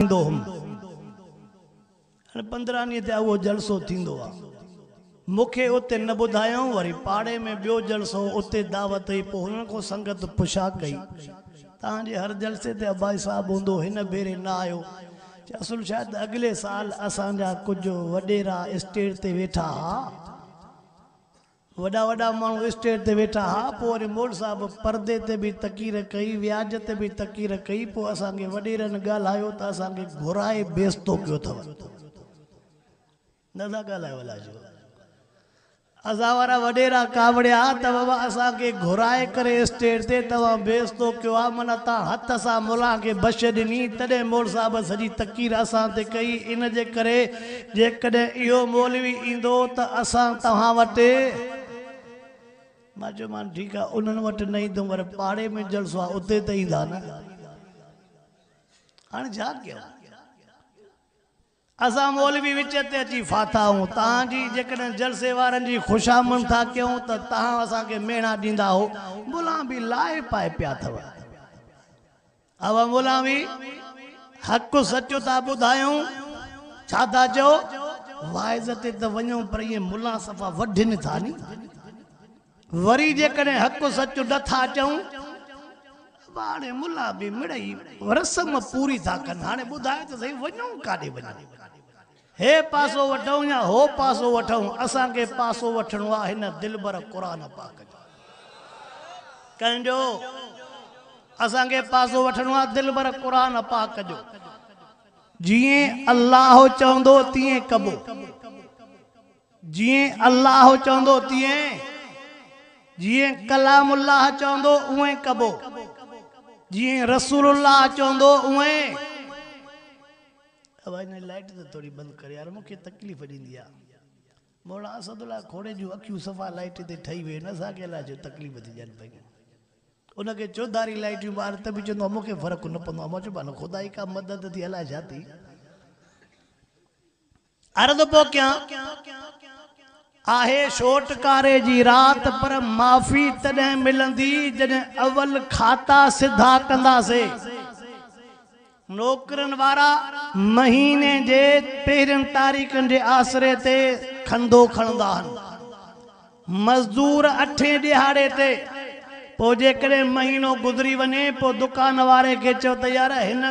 ڏيندو هوم. هاڻي پندرهن ڏينهن تي اهو جلسو ٿيندو آ. مون کي اتي نه ٻڌايائون وري پاڙي ۾ ٻيو جلسو اتي دعوت هئي پوء هنن کان سنگت پڇا ڪئي توهان جي هر جلسي تي عباسي صاحب هوندو هن ڀيري نه آيو چي اصل ڇا ته اڳلي سال اسان جا ڪجهه وڏيرا اسٽيج تي ويٺا ها وڏا وڏا ماڻهو اسٽيج تي ويٺا ها پوء وري مول صاحب پردي تي به تقرير ڪئي وياج تي به تقرير ڪئي پوء اسان کي وڏيرن ڳالهايو ته اسان کي گهرائي بيستو ڪيو اٿو نه ٿا ڳالهايو الاء ڇو اسان وارا وڏيرا ڪاوڙيا ته بابا اسان کي گهرائي ڪري اسٽيج تي توهان بيستو ڪيو آ معنيٰ توهان هٿ سان ملان کي بش ڏني تڏهن مول صاحب سڄي تقرير اسان تي ڪئي ان جي ڪري جيڪڏهن اهو مولوي ايندو ته اسان توهان وٽ. مان چيومان ٺيڪ آهي انهن وٽ نه ايندم پر پاڙي ۾ جلسو آهي اتي ته ايندا نه. هاڻي ڇا ڪيون؟ اسان مولوي وچ تي اچي ڦاٿا آهون. توهان جي جيڪڏهن جلسي وارن جي خوشامند ٿا ڪيون ته توهان اسان کي ميڻا ڏيندا اهو ملان به لاهي پائي پيا اٿو. اهو مولوي حق سچ ٿا ٻڌايون. ڇا ٿا چئو؟ واعظ تي ته وڃون پر ائين ملان صفا وڍين ٿا ني. وري جيڪڏهن حق سچ نه ٿا چئون ته هاڻي ملا به مڙئي رسم پوري ٿا ڪن. هاڻي ٻڌايو ته سهي وڃون ڪاڏي وڃون؟ هي پاسو وٺون يا هو پاسو وٺون اسان کي پاسو وٺڻو آ هن دلبر قرآن پاڪ جو. ڪنهن جو؟ اسان کي پاسو وٺڻو آ دلبر قرآن پاڪ جو. جيئن الله چوندو تيئن ڪبو. جيئن الله چوندو تيئن. جيئن ڪلام الله چوندو اونئين ڪبو. جيئن رسول الله چوندو اونئين. اوهان هن لائٽ ته ٿوري بند ڪريو يار مون کي تڪليف ڏيندي آ. مولانا اسد الله کوڙي جون اکيون صفا لائٽ تي ٺهي ويون اسان کي الائي ڇو تڪليف ٿي ڏين پيون. ان کي چوڌاري لائٽيون ٻار ته به چوندو آ مون کي فرق نه پوندو آ مان چيو مان خدا ئي ڪا مدد ٿي الائي ڇا ٿي عرض پيو ڪيان. آهي ڇوٽڪاري جي رات پر معافي تڏهن ملندي جڏهن اول کاتا سڌا ڪنداسي. نوڪرين وارا مهيني جي پهرين تاريخن جي آسري تي کنڌو کڻندا هن. مزدور اٺين ڏهاڙي تي پوء جيڪڏهن مهينو گذري وڃي پوء دڪان واري کي چئو ته يار هن